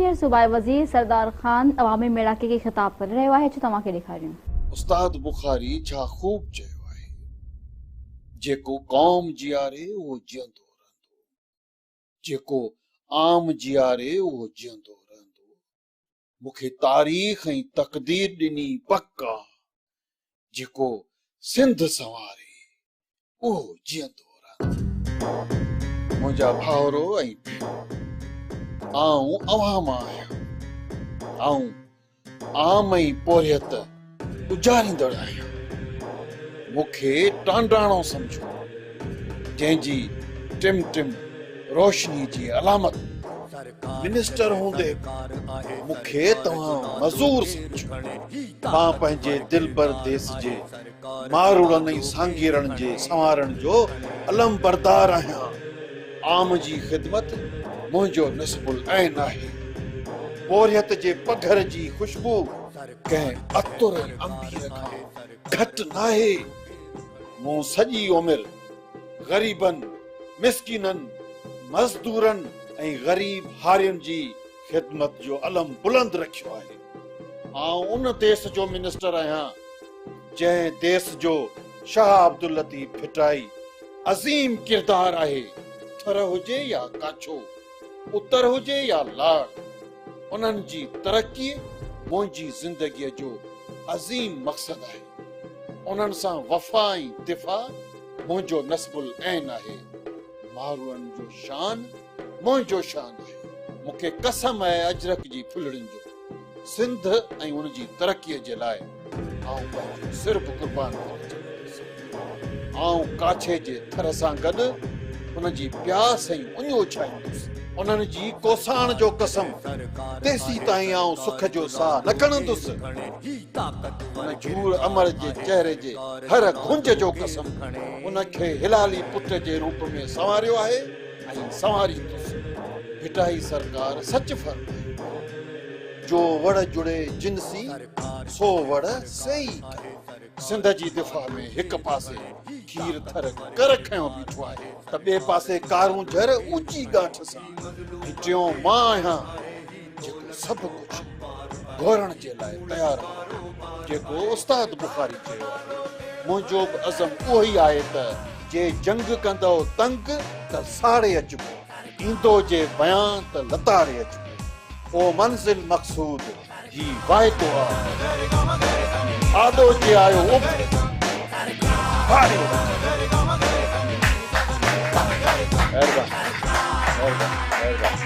هينئر صوبائي وزير سردار خان عوامي ميڙاڪي کي خطاب ڪري رهيو آهي، اچو توهان کي ڏيکاريون. استاد بخاري ڇا خوب چيو آهي، جيڪو قوم جياري اهو جيئندو رهندو، جيڪو عام جياري اهو جيئندو رهندو، مون کي تاريخ ۽ تقدير ڏني پڪ آ، جيڪو سنڌ سنواري اهو جيئندو رهندو. منهنجا ڀائرو ۽ ڀينرو! آئون اوهان مان آهيان. آئون عام ۽ پورهيت اجاريندڙ آهيان. مون کي ٽانڊاڻو سمجهو، جنهن جي ٽم ٽم روشني جي علامت منسٽر هوندي به مون کي توهان مزور سمجهو. مان پنهنجي دلبر ديس جي ماروڙن ۽ سانگيئڙن جي سنوارڻ جو علمبردار آهيان. عام جي خدمت منهنجو نصب العين آهي. پورهيت جي پگهر جي خوشبو ڪنهن عطر ۽ عنبير کان گهٽ ناهي. مون سڄي عمر غريبن، مسڪينن، مزدورن ۽ غريب هارين جي خدمت جو علم بلند رکيو آهي. آئون ان ديس جو منسٽر آهيان، جنهن ديس جو شاهه عبداللطيف ڀٽائي عظيم ڪردار آهي، ٿر هجي يا ڪاڇو، اتر هجي يا لاڙ، انهن جي ترقي منهنجي زندگيء جو عظيم مقصد آهي. انهن سان وفا ۽ دفاع منهنجو نصب العين آهي. ماروئن جو شان. منهنجو شان آهي. مون کي قسم آهي اجرڪ جي ڦلهڙين جو، سنڌ ۽ ان جي ترقيء جي لاء آئون پنهنجو سر به قربان ڪرڻ جي ميس آهيان. آئون ڪاڇي جي ٿر سان گڏ ان جي پياس ۽ اڃ اڇائيندس. انهن جي ڪوساڻ جو قسم، تيسيتائين آئون سک جو ساهه نه کڻندس. ان جهور امڙ جي چهري جي هر گهنج جو قسم، ان کي هلالي پٽ جي روپ ۾ سنواريو آهي. ۽ سنواريندس ڀٽائي سرڪار سچ فرمائي، جو وڙهه جڙي جن سين، سو وڙهه سيئي ڪري. سنڌ جي دفاع ۾ هڪ پاسي کير ٿر ڪر کنيو بيٺو آهي، ته ٻئي پاسي ڪارونجهر اوچي ڳاٺ سان، ۽ ٽيون مان آهيان. جيڪو سڀ ڪجهه گهورڻ جي لاء تيار آهي. جيڪو استاد بخاري چيو آهي، منهنجو به عزم اهوئي آهي ته، جي جنگ ڪندؤ تنگ ته ساڙي اچبو، ايندؤ جي بيان ته لتاڙي اچبو، او منزل مقصود هي واعدو آهي. آڏو جي آيو اڀري، هاري وڃبو. مهرباني مهرباني مهرباني.